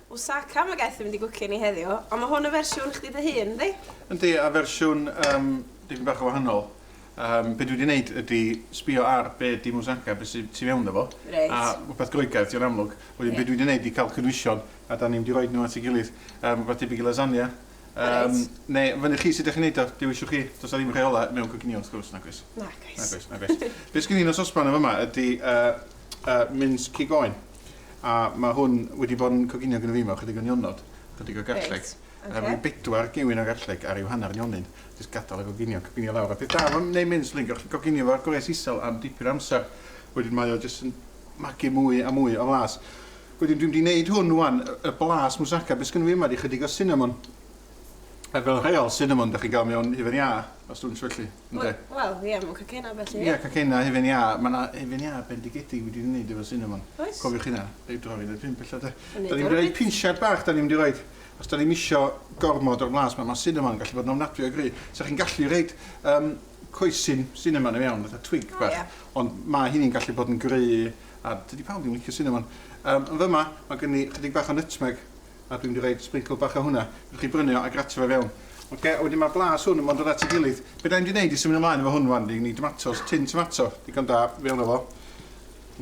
Ww Saka ma gaeth yn mynd i gwcio ni heddiw, ond ma hwn yn fersiwn chdi dy hun yndi? Yndi a fersiwn yym dipyn bach yn wahanol yym be dwi di neud ydi sbio ar be di Ww Saka be sy tu fewn iddo fo Reit. a rwbeth Groegaidd dio'n amlwg wedyn be dwi di neud ydi ca'l cynwysion a da ni'n mynd i roid nhw at ei gilydd yym rwbeth debyg i lasagna yym Reit. ne fyny chi sud dych chi'n neud o dewiswch chi does na ddim rheola mewn coginio wrth gwrs nag oes? Nag oes. Nag oes nag oes. Be sgin i yn y sosban yn fyma ydi yy yy mins cig oen. A mae hwn wedi bod yn coginio gyda fi mewn chydig o nionod, chydig o garlleg. Reit, ocê. Rwy'n bedwar gewyn o garlleg ar i'w hanner nionyn. Jyst gadael a goginio, coginio lawr. A peth da am wneud mince, rwy'n gallu coginio fo ar gwres isel am dipyn o amser. Wedyn mae o jyst yn magu mwy a mwy o flas. Wedyn dwi'n mynd i wneud hwn wan, y blas moussaka. Be sgynno fi yma ydy chydig o cinnamon. A fel rheol, cinnamon dych chi'n cael mewn hufen iâ, os dwi'n syllu, ynde? Wel, ie, mewn cacenau a felly, ie. Ie, cacenau, hufen iâ. Mae yna hufen iâ bendigedig wedi ei wneud efo cinnamon. Oes. Cofiwch hynna, ei droi'n yn y pump ella, de. Yn neud o reit. Da ni'n mynd i roi pinsiad bach, da ni'n mynd i roi, os da ni'm isio gormod o'r blas, mae cinnamon yn gallu bod yn ofnadwy o gry'. So chi'n gallu rhoi um, coesyn cinnamon i mewn, fatha twig bach. Ie. Ond mae hynny'n gallu bod yn gry', a dydy pawb ddim yn licio cinnamon. Um, yn fyma, mae gen i chydig bach o nutmeg. a dwi'n mynd i roid sprinkle bach o hwnna. Fedrwch chi brynu o a grato fe fewn. Oce, a wedyn mae'r blas hwn yn mynd at ei gilydd. Be da ni'n mynd i wneud i symud ymlaen efo hwn wan, ni'n gwneud tomatos, tin tomato, digon da, fewn efo.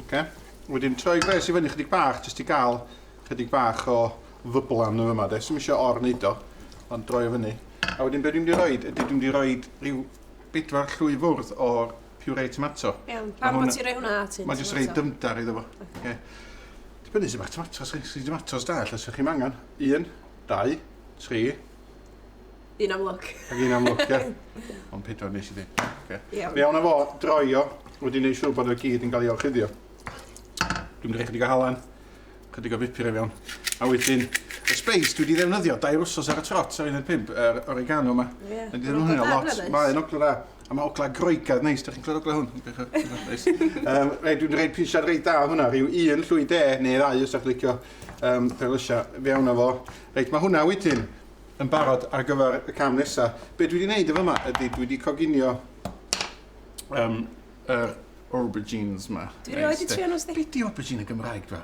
Oce, wedyn troi gwres i fyny chydig bach, jyst i gael chydig bach o ddyblan yn yma de, sy'n eisiau or wneud o, ond droi o fyny. A wedyn be dwi'n mynd i roed ydy dwi'n mynd i roed rhyw bedwar llwy fwrdd o'r puree tomato. Iawn, pam bod ti'n rhoi hwnna at hyn? Mae'n jyst rhoi dymdar iddo fo. Okay. Dibynnu sut ma'ch tomatos chi. Os chi tomatos da ella sa chi'm angen un, dau, tri. Un am lwc. Ac un am lwc ia? Ond pedwar nes i ddeud. Ocê. Iawn. Fe awna fo droi o wedi neud siŵr bod o gyd yn ga'l ei orchuddio. Dwi'n mynd i roi chydig o halan, chydig o bupur i fewn. A wedyn y speis dwi 'di ddefnyddio dair wsos ar y trot ar un o'r pump, yr oregano 'ma. Ie. Dwi 'di ddefnyddio hwnna lot. Mae o'n ogla dda. A mae ogla groegaidd neis, da chi'n clywed ogla hwn? Neis. um, rei, dwi'n rhaid prisiad rei da hwnna, rhyw un llwy de neu ddau os ydych licio um, perlysia. Fe awna fo. Reit, mae hwnna wedyn yn barod ar gyfer y cam nesaf. Be dwi wedi gwneud efo yma ydy dwi wedi coginio um, er, aubergines yma. Dwi wedi trio nhw, Steve. Be di aubergine y Gymraeg, dwa?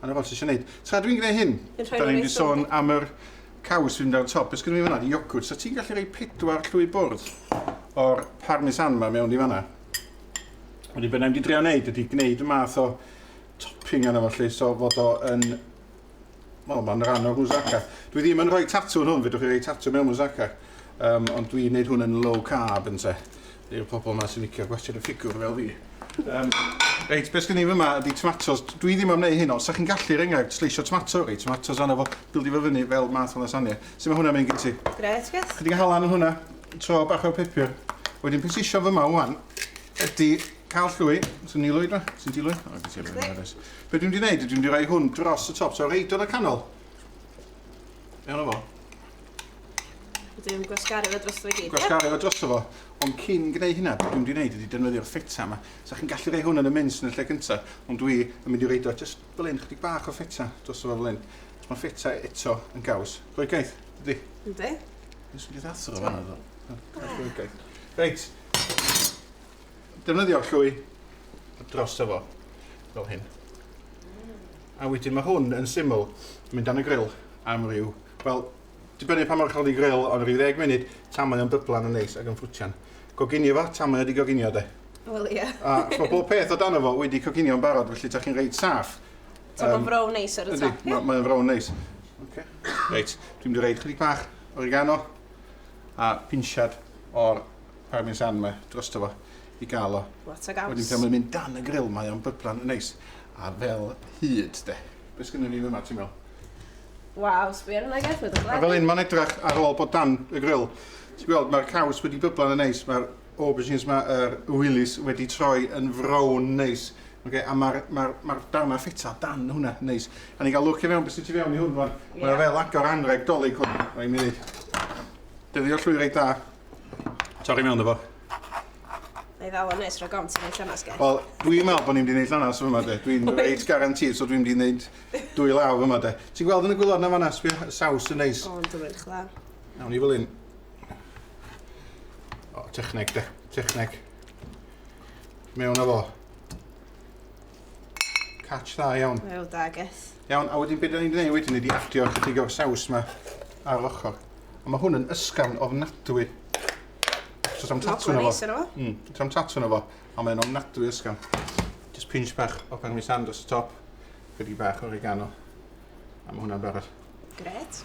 A 'na fo, ti isio neud... Tra dwi'n gneud hyn, Yn rhoi 'da nhw ni'n mynd i reit sôn rownd. am yr caws sy'n mynd ar y top. Be sgynno fi fan'na? Iogwrt. So ti'n gallu rhoi pedwar llwy bwrdd o'r parmesan 'ma mewn i fan'na. Wedyn be 'na i'n mynd i drio neud ydi gneud y math o topping arno fo 'lly, so fod o yn... Wel, ma'n ran o'r moussaka. Dwi ddim yn rhoi tatŵ yn hwn, fedrwch chi roi tatŵ mewn moussaka. Yym, ond dwi'n neud hwn yn low carb ynte. I'r pobl yma sy'n licio gwestiwn y ffigwr fel fi. Um, reit, beth gen i fyma ydy tomatos. Dwi ddim am wneud hyn, ond sa'ch chi'n gallu, er enghraifft, sleisio tomato, rei tomatos arno fo, bildi fo fyny fel math o lasagna. Sut mae hwnna'n mynd gen ti? Gret, gret. Chydig halan yn hwnna, tro bach o'r pepur. Wedyn, peth sisio fyma wan, ydy cael llwy, sy'n nilwyd ma, sy'n dilwyd. O, gen ti rhywun Be dwi'n mynd i wneud, dwi'n mynd i roi hwn dros y top, so reid o'n y canol. Iawn o fo? Dwi'n gwasgaru fo dros fo gyd. Gwasgaru fo dros fo. Ond cyn gwneud hynna, beth dwi'n gwneud ydy defnyddio'r ffeta yma. So chi'n gallu rhoi hwn yn y mince yn y lle gyntaf, ond dwi yn mynd i reid o just fel un, chydig bach o ffeta dros fo fel un. Mae ffeta eto yn gaws. Rhoi gaeth, dydy? Ynddi. Dwi'n mynd i ddathro fo fanna. Rhoi gaeth. Reit. defnyddio'r llwy drosto fo, fel hyn. A wedyn mae hwn yn syml, mynd dan y grill am ryw, wel, dibynnu pa mor uchel di grill, ond rhyw ddeg munud, tan mae o'n dyblan yn neis ac yn ffrwtian. Goginio fo, tan mae o di goginio, de. Wel, ie. A mae bob peth o dan o fo wedi coginio yn barod, felly ta chi'n reit saff. Ta mae'n frown neis ar y ta. Ydy, mae'n frown neis. Okay. Reit, dwi'n mynd i reid chydig bach oregano a pinsiad o'r parmesan yma drosto fo i gael o. Lot o gaws. Wedyn pan mae'n mynd dan y grill mae o'n byblan yn neis. A fel hyd de. Be sgynnon ni yma ti'n meddwl? Waw, sbio hwnna Geff, mae'n A fel hyn mae'n edrach ar ôl bod dan y grill. Ti'n gweld mae'r caws wedi byblan yn neis, mae'r aubergines yma, yr willies wedi troi yn frown neis. Okay, a mae'r ma ma darnau ffeta dan hwnna neis. A ni'n cael lwc i fewn beth sy'n tu fewn i hwn rwan. Yeah. Mae fel agor anreg dolyg hwn, rhaid mi ddweud. Dyfio llwy reit dda. Torri mewn efo. Na i ddal o'n nes rhag ofn ti'n neud llanas gen. Wel, dwi'n meddwl bod ni'n mynd i neud llanas yma de. Dwi'n reit garantid, so dwi'n mynd i neud dwy law yma de. Ti'n gweld yn y gwylod na fanna, sbio, y saws yn neis. Ond dwi'n edrych dda. Nawn ni fel un. O, techneg de, techneg. Mewn efo. Catch dda iawn. Wel da geth. Iawn, a wedyn beth da ni'n gwneud wedyn ydi adio chydig o'r saws yma ar yr ochr. A mae hwn yn ysgafn ofnadwy. So tam tatw na fo. Mm, tam tatw na fo. A mae'n ofnadwy ysgafn. Just pinch bach o parmesan dros y top. Chydig bach o oregano. A mae hwnna'n barod. Gret.